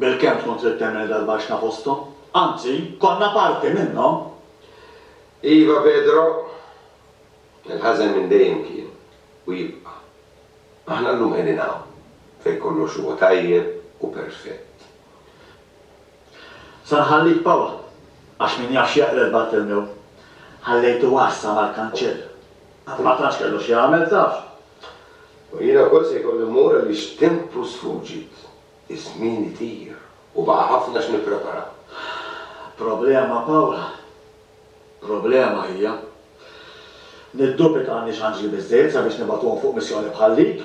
Bilkemm tkun trid temmel dal-baxxna fosthom. Anzi, konna parti minnhom. Iva, Pedro. Il-ħażen minn dejjem kien, u jibqa'. Aħna llum qegħdin hawn, fejn kollox huwa tajjeb u perfett. Se nħallik Paul, għax min jaf x'jeqred Bartelmew. Ħallejtu għassa mal-kanċell. Ma tantx kellu x'jagħmel, taf. U jiena wkoll se jkolli mmur għaliex tempu sfuġit, iż-żmien itir u baqa' ħafna x'nipprepara. Problema, Paula. Problema hija. Niddubita għandniex anġli biżżejjed sabiex nibagħtuhom fuq missjoni bħal dik.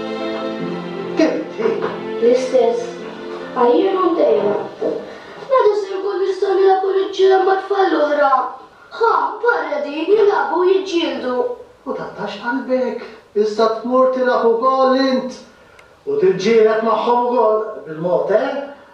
L-istess. Għajjien u ntejna. Meta se nkun nistgħu nilagħbu niċ-ċirem ma' tfal l-oħra? Ħa, barra din, jilagħbu u jiġġieldu. U taqtax qalbek, issa tmur tilgħab ukoll int u tiġġieled magħhom ukoll, bil-mod, eh?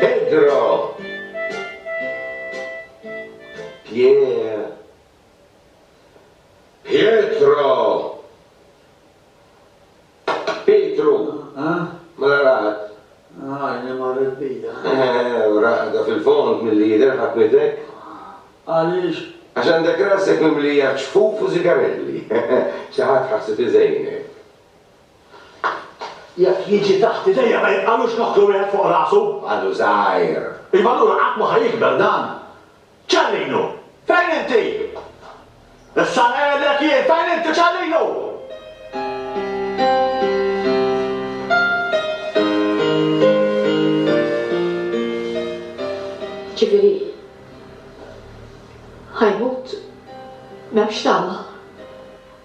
Pedro! Pier! Pietro! Pietru! Mela raqad. Għajni marret bija. Eħe, raqda fil-fond milli jidher ħakmitek. Għaliex? Għax għandek rasek mimlija ġfuf u sigarelli. Xi ħadd ħassef iżejnek. Jekk jiġi taħt idejja ma jibqalux nokkru wieħed fuq rasu. Għadu żgħir. Iva allura qatt ma ħa jikber dan. Ċellinu! Fejn inti? Issa ngħidlek jien fejn inti Ċellinu! Ġifieri ħa jmut? M'hemmx tama?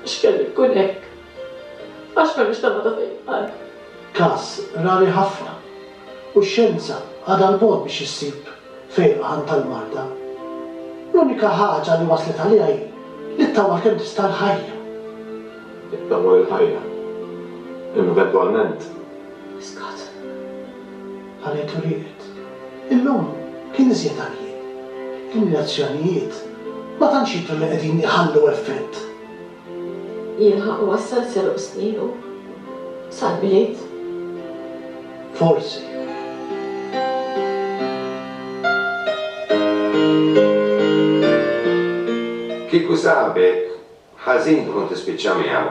Għax kellu jkun hekk. Għax m'hemmx tama ta' fejqan. Każ rari ħafna, u x-xjenza għadha 'l bogħod biex issib fejqan tal-marda. L-unika ħaġa li waslet għaliha hi li ttama kemm tista' l-ħajja. Ittama li l-ħajja, eventwalment. Iskot. Qalet u rieqet. Illum kien iżjed għarjien. Il-mirazzjonijiet ma tantx jidhru li qegħdin iħallu effett. Jilħaq iwassal seruq snienu sal-bliet. Forsi. Kieku sabek ħażin tkun tispiċċa miegħu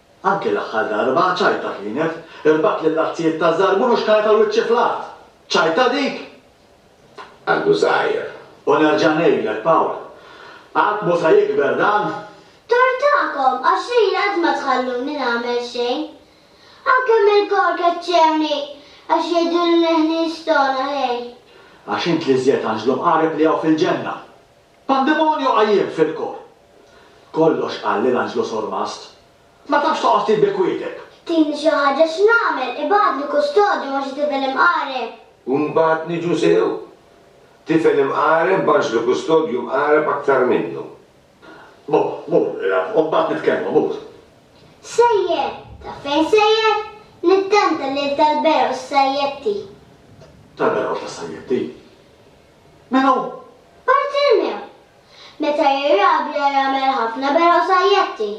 Anke l-aħħar darba ċajta kienet, irbaħt lill-azzijiet taż-żarbun u xkarret għal wiċċi fl-art. Ċajta dik? Għadu żgħir. U nerġa' ngħidlek, Pawl, qatt mhu se jikber dan. Tort tagħkom, għax lili qatt ma tħalluni nagħmel xejn. Anke mill-kor keċċewni għax jgħiduli li ħnież togħna, ħej. Għax int l-iżjed anġlu mqareb li hawn fil-ġenna. Pandemonju qajjem fil-kor. Kollox qal lil Anġlu Sormast. Ma tafx toqgħod tip bi kwieteb. Tini xi ħaġa x'nagħmel, ibagħtli kustodju ma' xi tifel imqareb. U mbagħad niġu sew? Tifel imqareb b'anġlu kustodju mqareb aktar minnu. Mur, mur, ilgħab, u mbagħad nitkellmu, mur. Sejjer! Taf fejn sejjer? Nittenta lil tal-Beroż Sajjetti. Tal-Beroż tas-Sajjetti? Min hu? Bartilmew. Meta jirah bla jagħmel ħafna beraw sajjetti,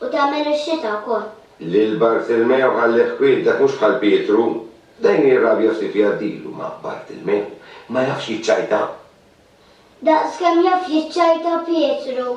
u tagħmel ix-xita wkoll. Lil Bartilmew ħallih kwiet, dak mhux bħal Pietru. Dejn jirrabja ftit jgħaddilu, ma Bartilmew ma jafx jiċċajta. Daqs kemm jaf jiċċajta Pietru.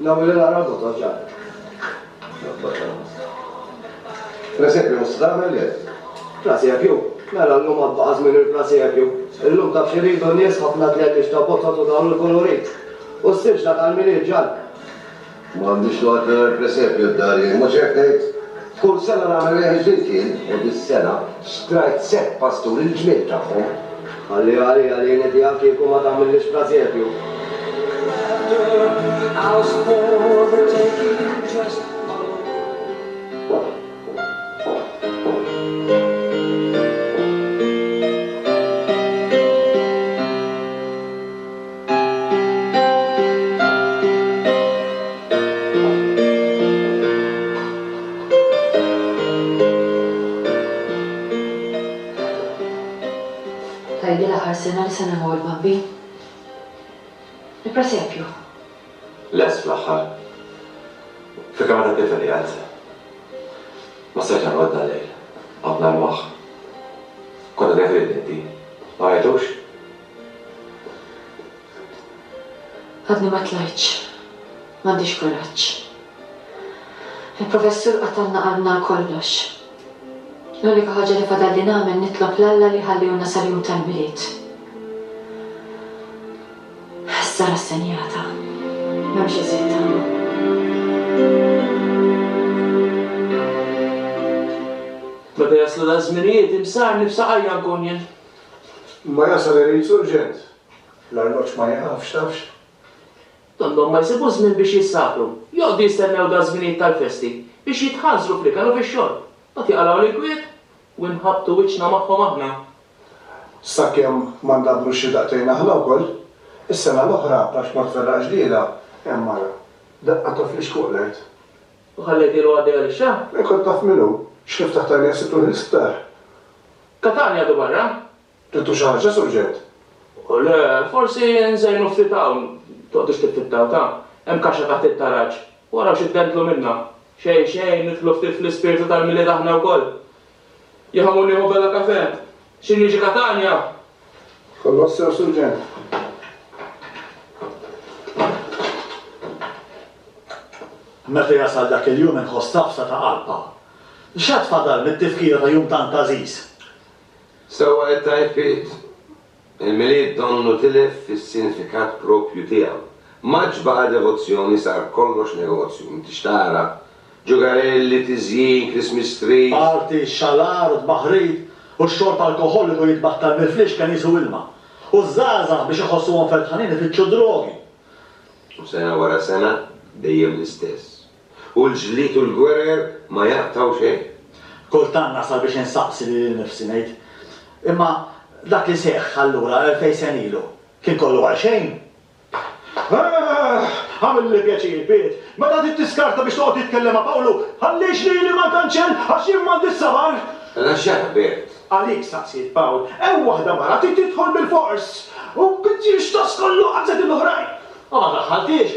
L-ewwel li nara l-vot oġġar. Presepju mhux se tagħmel le. Presepju, mela llum għad baqa' żmien il-presepju. Illum taf x'iridu n-nies ħafna tletlix ta' botot u dawn il-kulurit. U s-silġna tal-Milied ġall. Ma għandix noqgħod mingħajr presepju d-dar jien, mhux hekk ngħid? Kull sena nagħmel wieħed ġdid jien u dis-sena xtrajt sett pasturi l-ġmiel tagħhom. Ħalliha għalija din idea kieku ma tagħmillix prasepju. Tgħidli l-aħħar sena li se nagħmlu il-bambin? Il-presepju? Lest fl-aħħar. F'kamra ta' tifel qiegħed. Ma stajtx norqod dal-lejl. Qgħadt narmah. Kont għadek ridni inti. Ma rajtux? Għadni ma tlajtx. M'għandix kuraġġ. Il-Professur qatalna qalbna għal kollox. L-unika ħaġa li fadalli nagħmel nitlob 'l Alla li jħallihulna sal-jum tal-Milied. Issa rassenjata. M'hemmx iżjed tama. Meta jaslu daż-żminijiet, imsar nifsa qajja nkun jien. Imma jasal irid surġent. L-arloġġ ma jieqafx, tafx. Donnhom ma jsibu żmien biex jissakru. Joqgħdu jistennew daż-żminijiet tal-festi biex jitħanżru fl-ikel u fix-xorb. Mbagħad jaqalgħu l-inkwiet u inħabbtu wiċċna magħhom aħna. Sakemm ma ndabbrux xi daqtejn aħna wkoll. Is-sena l-oħra, għax ma tferraqx dila, hemm mara. Daqqa tofli xquq l-art. U ħallejtilha għaddejja lix-xagħar? Min kont taf min hu? X'kif taħt għajnejha sibt ruħi l-isptar. Katania du barra? Tliftu xi ħaġa, Sur Ġewd? Le, forsi nżejnu ftit hawn. Toqgħdux tiffittaw, ta! Hemm kaxxa taħt it-taraġ. Waraw xi ddendlu minnha. Xejn, xejn, nidħlu ftit fl-ispirtu tal-Milied aħna wkoll. Jien ħammur nieħu bella kafè. Xi niġi, Katania? Kollox sew, Surġent. Meta jasal dak il-jum inħoss tafsa ta' qalb hawn. X'għad fadal mit-tifkira ta' jum tant għażiż? Sewwa it-Tajfiet! Il-Milied donnu tilef fis-sinifikat proprju tiegħu. M'għadx baqa' devozzjoni sar kollox negozju, inti x'tara? Ġugarelli, tiżjin, Christmas trees. Party, xalar, tbaħħrit, u x-xorb alkoħoliku jitbattal mill-flixken qisu ilma. U ż-żgħażagħ biex iħossuhom ferħanin ifittxu d-drogi. U sena wara sena dejjem l-istess. U l-ġlied u l-gwerer ma jaqtgħu xejn. Kultant nasal biex insaqsi lili nnifsi ngħid, Imma dak li seħħ allura elfejn sena ilu, kien kollu għalxejn? Ahh! Agħmilli pjaċir, Piet, meta trid tiskarta biex toqgħod titkellem ma' Pawlu, ħallix lili mal-kanċell għax jien m'għandix sabar! Mela x'ġara, Bert? Għalik staqsiet, Pawl. Hemm waħda mara trid tidħol bilfors! U b'ġiex ta' skollu qażżet il-oħrajn! U ma daħħalthiex!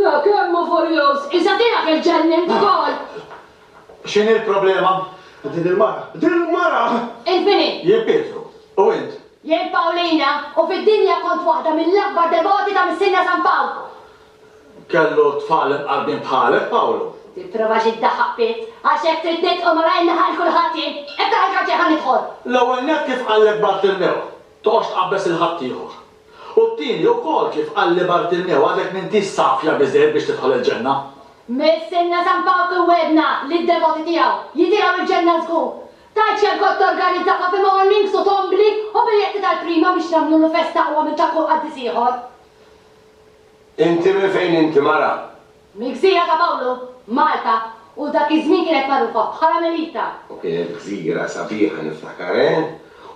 Da kemm hu furjuż! Issa tiegħek iġġennint ukoll! X'inhi l-problema? Din il-mara! Din il-mara! Int min hi? Jien Pietru. U int? Jien Pawlina, u fid-dinja kont waħda mill-akbar devoti ta' Missierna San Pawl. Kellu tfal imqarbin bħalek, Pawlu? Tipprova xi ddaħħaq pitt? Għax hekk trid nidħol malajr nilħaq 'il kulħadd jien? Iftaħ il-karċer ħa nidħol! L-ewwel nett kif qallek Bartilmew, toqgħodx tqabbeż lil ħaddieħor. U t-tieni wkoll kif qal li Bartimmew, Għadek m'intix safja biżżejjed biex tidħol il-ġenna. Mistenna San Pawl kien wegħdna li d-devoti tiegħu jitilgħu l-ġenna żgur. Ta ċ-ċer kont torganizza coffee mornings u tombli u biljetti tal-prima biex nagħmlulu festa aqwa minn ta' kull qaddis ieħor. Inti minn fejn inti mara? Mill-gżira ta' Pawlu, Malta, u dak iż-żmien kienet magħrufa bħala Melita. U kienet gżira sabiħa niftakar, eh?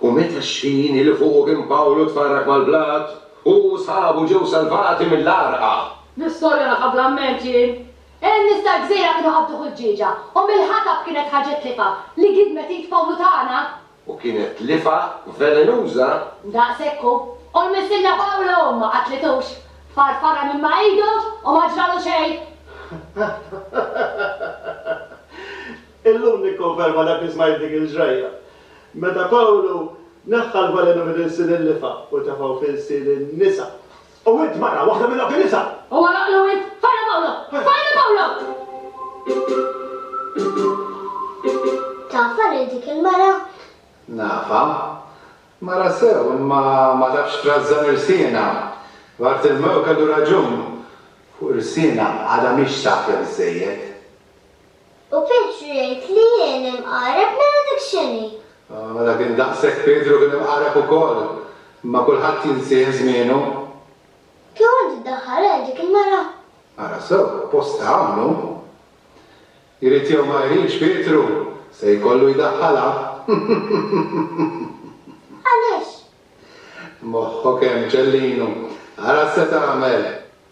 U meta x-xħini li fuqu kien Pawlu tfarrak mal-blat, hu u sħabu ġew salvati mill-għarqa. L-istorja nafha bla mment jien. In-nies tal-gżira kienu qabduh il-ġieġa, u mill-ħatab kienet ħarġet tlifa li gidmet id Pawlu tagħna. U kienet tlifgħa velenuża. Daqshekk hu. U l-missierna Pawlu ma qatlitux. Farfarha minn ma' idu u ma ġralu xejn. Illum nikkonferma dak li smajt dik il-ġrajja. Meta Pawlu neħħa l-velenu minn ilsien il-lifgħa u tefgħu f'ilsien in-nisa. U int, mara, waħda minn dawk in-nisa! U għalaqlu int! Fajla Pawlo! Fajla Pawlo! Tafha lil dik il-mara? Nafha. Mara sew, imma ma tafx trażżan irsienha. Bartilmew kellu raġun. Fuq irsienha għadha mhix safja biżżejjed. U Pietru jgħid li jien imqareb mela dak x'inhi? Mela kien daqshekk Pietru kien imqareb ukoll. Imma kulħadd jinsih żmienu. Kieku int iddaħħal għal dik il-mara? Ara sew, postha hawn hu. Jrid jew ma jridx Pietru se jkollu jdaħħalha. Għaliex? Moħħok hemm ċellinu. Ara x'se tagħmel.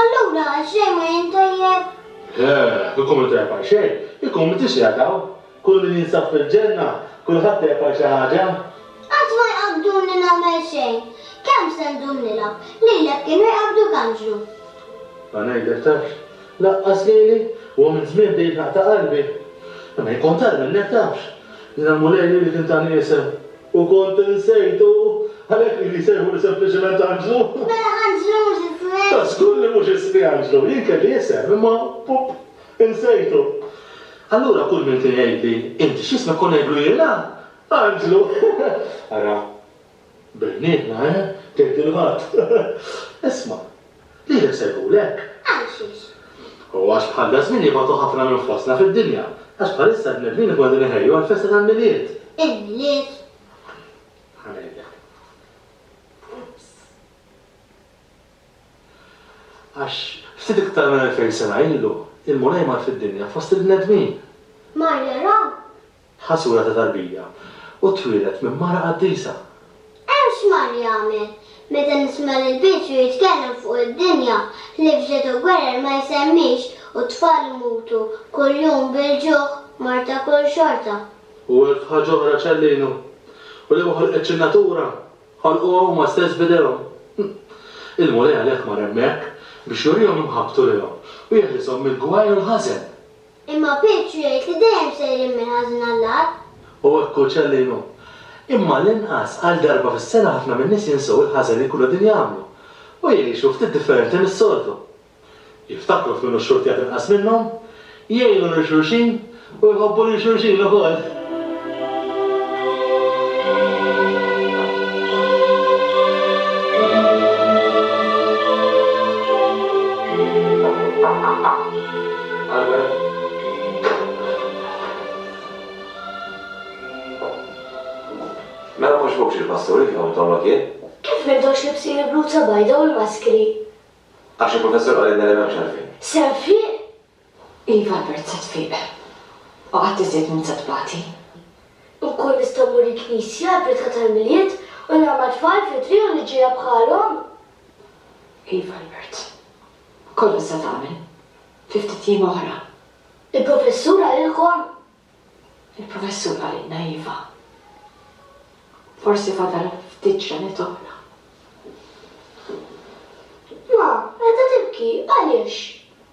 Allura xejn ma jien tajjeb? Le, ikun minn tajjeb għal xejn, ikun minn tixjigħat hawn. Kull min jinsab fil-Ġenna, kulħadd tajjeb għal xi ħaġa. Qatt ma jqabbduni nagħmel xejn. Kemm se ndum nilgħab, lilek kienu jqabbduk anġlu. Ħa ngħidlek tafx, laqqas lili, huwa minn żmien bdejt naqta' qalbi. Imma jkun tar minnek tafx. Jiena l-Mulej li kien ta' l-isem, u kont insejtu, għalhekk ili nsejħuli sempliċement anġlu. Mela anġlu mhux ismi? Ta' żgur li mhux ismi anġlu, jien kelli isem, imma, pup, insejtu. Allura kull min kien jgħidli, 'Inti x'ismek? kont ngħidlu jiena, Anġlu. Ara. Bejnietna, eh? tgħid il-ħadd. Isma', lilek se jkun hekk. Għalxiex? U għax bħal daż-żmien jibgħatu ħafna minn fostna fid-dinja, għax bħalissa l-bnedmin ikunu qegħdin iħejju għall-festa tal-Milied. Il-Milied? Ħa ngħidlek. Ups. Għax ftit iktar minn elfejn sena ilu, il-Mulej mar fid-dinja fost il-bnedmin. Mar jara Ħasula ta' tarbija, u twieled minn mara qaddisa. Hemm xmar jagħmel. Meta nisma' lil Pietru jitkellem fuq id-dinja li fġed u gwerer ma jsemmix u t-tfal imutu kuljum bil-ġuħ, mort akul xorta. U elf ħaġa oħra ċellinu. U li ma ħolqetx in-natura, ħolquha huma stess b'idejhom. Il-Mulej għalhekk mar hemmhekk biex jurihom imħabbtu lilhom u jeħlishom mill-gwaj u l-ħażen. Imma Pietru jgħid li dejjem sejrin mill-ħażin għall-agħar. U hekk hu ċellin hu. Imma għall-inqas, għal darba fis-sena ħafna min-nies jinsew il-ħażen li jkunu qegħdin jagħmlu. U jgħixu ftit differenti mis-soltu. Jiftakru f'min hu x-xortijat inqas minnhom, jgħinu lil xulxin u jħobbu lil xulxin ukoll. Mela mhux hux il-pastur li fihom it-togħma kien? Kif m'intomx libsin il-bluza bajda u l-maskri? Għax il-professur qalilna li m'hemmx għalfejn. Se nfiq? Iva l-bert sa tfiq. U qatt iżjed minn sa tbati. Inkun nista' mmur il-knisja għall-pritka tal-Milied u nara mat-tfal fit-triq u niġġiegħel bħalhom? Iva l-bert. Kollox sa tagħmel. Fi ftit jiem oħra. Il-Professur qalilkom? Il-Professur qalilna iva. Forsi fadal ftit ġranet oħra. Ma, qiegħda tibki, għaliex?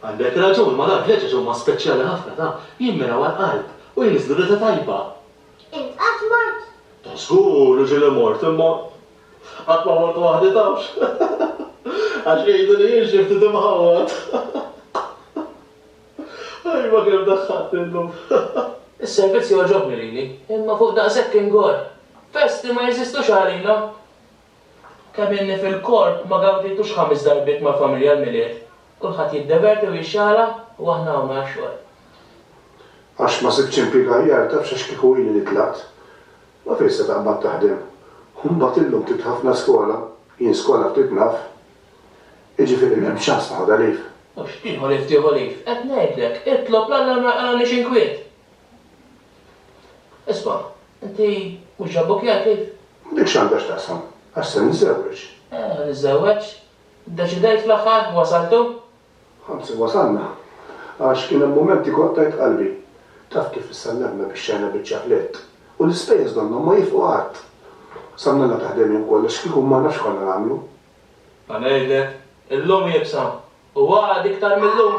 Għandek raġun, Malard, l-għeġeġ huma speċjali ħafna, ta, jimmiraw għall-qalb u jniżżlu riħa tajba. Int qatt mort? Ta' żgur li ġieli mort, imma qatt ma mort waħdi, tafx? Għax jgħidu li jien xi ftit imħawwad. Ajwa kemm daħħaltni llum. Is-servizz jogħġobni lili, imma fuq daqshekk ingorr. Festi ma jeżistux għalina! Kemm ilni fil-korp ma gawdejtux ħames darbiet mal-familja l-Milied. Kulħadd jiddeverti u jixxaħla u aħna hawn għax-xogħol. Għax ma sibtx impjieg aħjar, tafx għax kieku ili li tlaqt. Ma fejn se taqbad taħdem. U mbagħad illum ftit ħafna skola, jien skola ftit naf. Jiġifieri m'hemmx ċans naħodha leave. U x'tieħu leave tieħu leave. Qed ngħidlek, itlob 'l Alla ma jqalgħanix inkwiet. Isma', inti mhux ġabbok jgħajtlik? U dik x'għandha x'taqsam? Għax se niżżewweġ. Eh, niżżewweġ? Iddeċidejt fl-aħħar? Wasaltu? Anzi wasalna. Għax kien hemm mumenti kont tajt qalbi. Taf kif issa n-nedma bixxejna biċċa plett. U l-ispejjeż donnhom ma jifqu qatt. Sannella ta' ħdejn hemm kollox, kieku marna x'konna nagħmlu? Ħa ngħidlek, illum iebsa, u għada iktar mil-lum.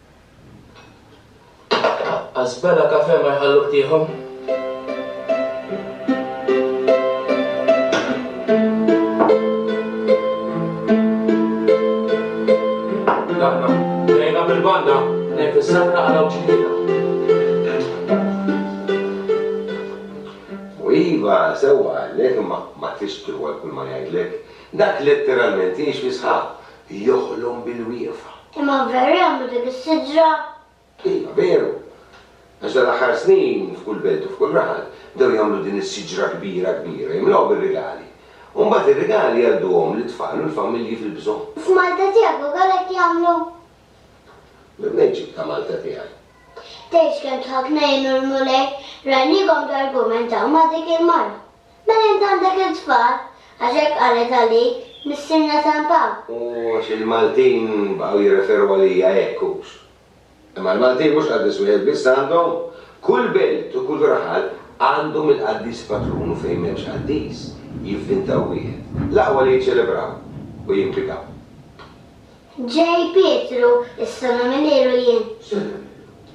Asbella Cafe ma jħalluk tieħu. Daqna, lejna bil-banda, nejn fis-sakra għana uċċidina. U iva, sewwa għallek, imma ma tridx tirwol kull ma jgħidlek. Dak letteralment jgħix fi sħab. joħlom bil-wieqfa. Imma veru jagħmlu din is-siġra? Iva, veru. Għax dan l-aħħar snin, f'kull belt u f'kull raħal, bdew jagħmlu din is-siġra kbira kbira, jimlgħu bir-rigali. U mbagħad ir-rigali jgħadduhom lit-tfal u l-familji fil-bżonn. U f'Malta tiegħek ukoll hekk jagħmlu? Minn fejn ġibt ta' Malta tiegħi? Tgħidx kemm dħakna jien u l-Mulej, rajniekom targumentaw ma' dik il-mara. Mela int għandek it-tfal, għax hekk qalet għalik Missierna San Pawl. U għax il-Maltin baqgħu jirreferu għalija hekk, hux? Imma l-Maltin mhux qaddis wieħed biss għandhom, kull belt u kull raħal għandhom il-qaddis patrun u fejn m'hemmx qaddis, jivvintaw wieħed. L-aqwa li jiċċelebraw u jimpjegaw. Ġej Pietru, Issa nagħmel ħielu jien. Semmini.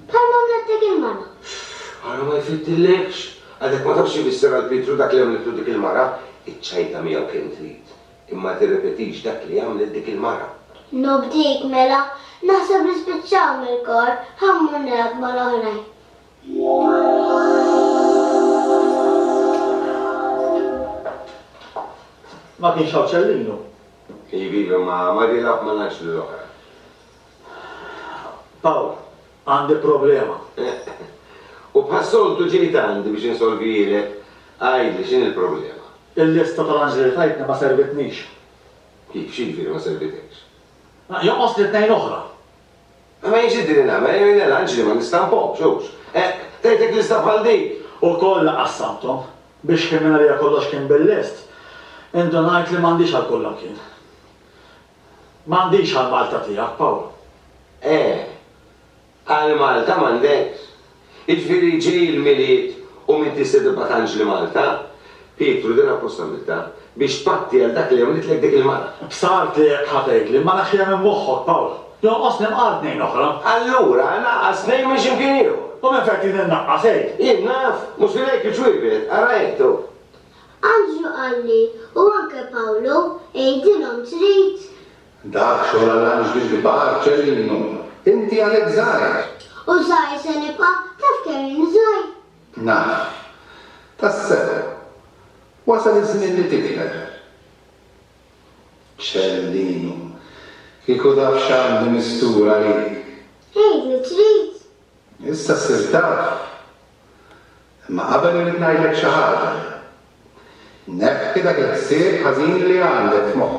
Bħalma għamlettek il-mara. Uff, ara ma jfiddillekx! Għadek ma tafx x'ifisser għal Pietru dak li għamlitlu dik il-mara. Iċċajta miegħu kemm trid, imma tirrepetix dak li għamlet dik il-mara. Nobdik, mela. Naħseb li spiċċaw mill-kor, ħa mmur nilgħab mal-oħrajn. Ma kienx hawn Cellino? Iviva ma Marilab ma ngħidx lil oħra. Pawl, Għandi problema. U bħas-soltu ġejt għandi biex insolvijilek, għidli x'inhi l-problema. Il-lista tal-anġli li tajtni ma servitnix. Kif, x'jiġifieri ma servitekx? Jonqosni tnejn oħra. Imma jien x'idri nagħmel, jien l-anġli ma nistamphomx, hux. Eq, tgħidlek lista bħal dik! U kollha qassamthom, biex kien mingħalija kollox kien bil-lest. Indunajt li m'għandix għal kull imkien. M'għandix għall-Malta tiegħek, Paolo. Eh, għall-Malta m'għandekx. Jiġifieri ġej il-Milied u min tista' tibqa' tanġli Malta? Pietru, din apposta għamiltha, biex tpatti għal dak li għamlitlek dik il-mara. B'sar tiegħek ħa tgħidli, ma nafx kemm hemm moħħok, Pawl. Jonqosni mqar tnejn oħra. Allura, naqqas tnejn minn xi mkien ieħor. U minn fejn trid innaqqas, għid? Jien naf? Mhux filejk iċ-ċwievet, ara għid, hu. Anġlu qalli, u anke Pawlu, għidilhom trid Dak xogħol għal anġli kbar, Ċellino. Inti għalhekk żgħir. U żgħir se nibqa' taf kemm jien żgħir? Naf. Tassew. Wasal iż-żmien li tikber. Ċellino. Kieku taf x'għandi mistur għalik. Għid li trid. Issa ssir taf. Imma qabel irrid ngħidlek xi ħaġa. Neħħi dak il-ħsieb ħażin li għandek f'moħħok.